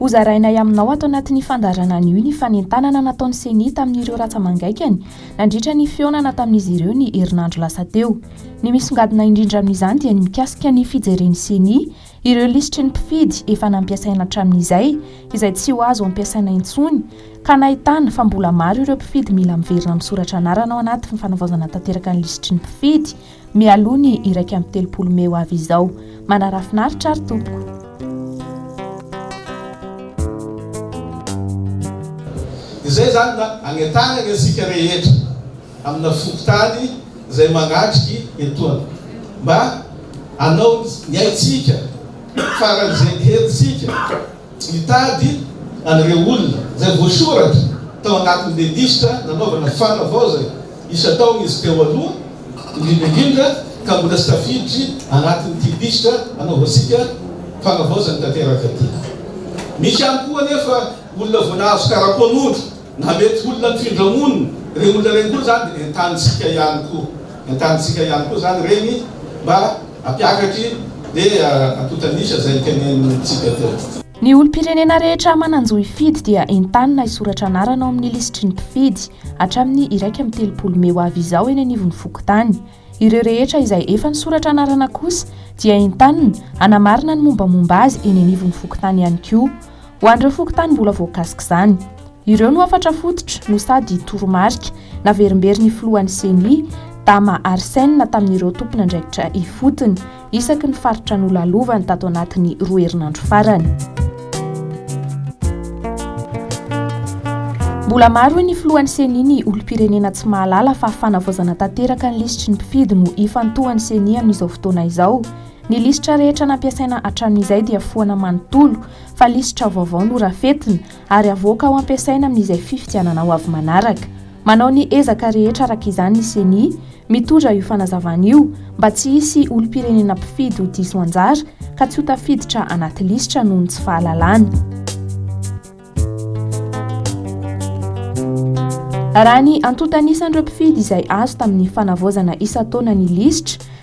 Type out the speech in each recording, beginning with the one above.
Hozarainay aminao ato anatin'ny fandaharana anio ny fanentanana nataon'ny Ceni tamin'ireo ratsa-mangaikany nandritra ny fihaonana tamin'izy ireo ny herinandro lasa teo. Ny misongadina indrindra amin'izany dia ny mikasika ny fijeren'ny Ceni ireo lisitry ny mpifidy efa nampiasaina hatramin'izay izay tsy ho azo ampiasaina intsony ka nahitana fa mbola maro ireo mpifidy mila miverina misoratra anarana ao anaty fanaovaozana tanteraka ny lisitry ny mpifidy Mialoha ny iraika amby telopolo mey ho avy izao. Manarafinaritra ary tompoko. Izay izany mba hanetanany antsika rehetra amina fokontany izay mangatriky etoana mba hanao ny haintsika faran'izay ny henintsika. Nitady an'ireo olona izay voasoratra tao anatin'ny legisitra nanaovana fanavaozana isan-taona izy teo aloha, indrindra indrindra ka mbola tsy tafiditry anatin'ity lisitra anaovantsika fanavaozana tanteraka ity. Misy ihany koa anefa olona voa nahazo karapanondro. Na mety ho olona mifindra monina ireny olona ireny koa izany dia entanintsika ihany koa, entanintsika ihany koa izany ireny mba hampiakaky ny antontan'isa izay tenenintsika teo. Ny olom-pirenena rehetra manan-jo hifidy dia entanina hisoratra anarana ao amin'ny lisitry ny mpifidy hatramin'ny iraika amby telopolo mey ho avy izao eny anivon'ny fokontany. Ireo rehetra izay efa nisoratra anarana kosa dia entanina hanamarina ny mombamomba azy eny anivon'ny fokontany ihany koa. Ho an'ireo fokontany mbola voakasik'izany. Ireo no hafatra fototra no sady toromarika naverimberin'ny filohan'ny Ceni, Dama Arsène tamin'ireo tompon'andraikitra ifotony. isaky ny faritra nolalovany tato anatin'ny roa herinandro farany. Mbola maro hoy ny filohan'ny CENI ny olom-pirenena tsy mahalala fa fanavaozana tanteraka ny lisitry ny mpifidy no ifantohan'ny CENI amin'izao fotoana izao. Ny lisitra rehetra nampiasaina hatramin'izay dia foana manontolo fa lisitra vaovao norafetina ary avoaka ho ampiasaina amin'izay fifidianana ho avy manaraka. Manao ny ezaka rehetra araka izany ny Ceni, mitondra io fanazavana io mba tsy hisy olom-pirenena mpifidy ho diso anjara ka tsy ho tafiditra anaty lisitra noho ny tsy fahalalana. Raha ny antontan'isan'ireo mpifidy izay azo tamin'ny fanavaozana isan-taona ny lisitra,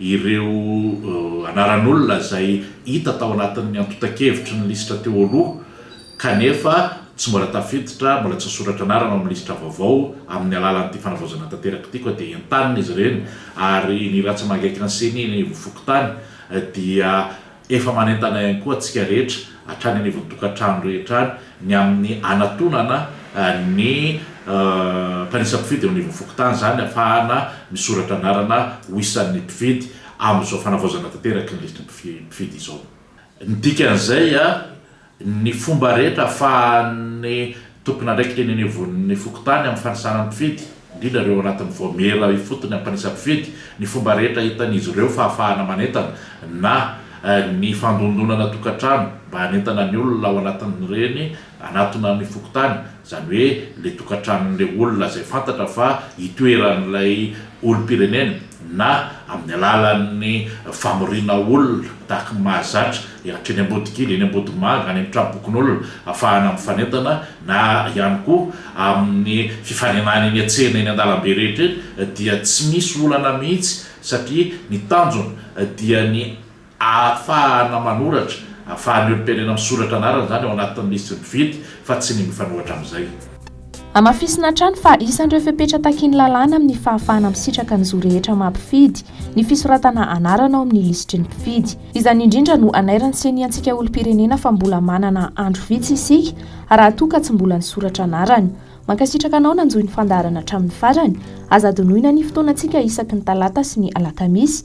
Ireo anaran'olona izay hita tao anatin'ny antontan-kevitry ny lisitra teo aloha kanefa tsy mbola tafiditra, mbola tsy nisoratra anarana ao amin'ny lisitra vaovao amin'ny alalan'ity fanavaozana tanteraka ity koa dia entanina izy ireny ary ny Rantsamangaikan'ny Ceni ny Ivo Fokontany dia Efa manentana ihany koa antsika rehetra, hatrany anivon'ny tokantrano rehetra any, ny amin'ny hanatonana ny mpanisa mpifidy eo anivon'ny fokontany, izany hahafahana misoratra anarana ho isan'ny mpifidy amin'izao fanavaozana tanteraky ny listram-pifidy izao. Ny dikan'izay, ny fomba rehetra ahafahan'ny tompon'andraikitra eny anivon'ny fokontany amin'ny fanisana ny mpifidy, indrindra ireo ao anatin'ny vaomiera ifotony hampanisa mpifidy, ny fomba rehetra ahitan'izy ireo fahafahana manentana na ny fandondonana tokantrano mba hanentana ny olona ao anatin'ireny hanatona ny fokontany. izany hoe ilay tokantranon'ilay olona izay fantatra fa itoeran'ilay olom-pirenena na amin'ny alalan'ny famoriana olona tahaka ny mahazatra ankeny Ambodikely, eny Ambodimanga, any amin'ny trabokon'olona afahana mifanentana na ihany koa amin'ny fifaninana eny an-tsena eny an-dalambe rehetra eny dia tsy misy olana mihitsy satria ny tanjona dia ny Ahafahana manoratra, ahafahan'ny olom-pirenena misoratra anarana izany ao anatin'ny lisitry ny mpifidy fa tsy ny mifanohitra amin'izay. Hamafisina hatrany fa isan'ireo fepetra takian'ny lalàna amin'ny fahafahana misitraka ny zo rehetra maha mpifidy ny fisoratana anarana ao amin'ny lisitry ny mpifidy. Izany indrindra no anairan'ny Ceni antsika olom-pirenena fa mbola manana andro vitsy isika raha toa ka tsy mbola nisoratra anarana. Mankasitraka anao nanjohy ny fandaharana hatramin'ny farany. Aza adinoina ny fotoanantsika isaky ny talata sy ny alakamisy.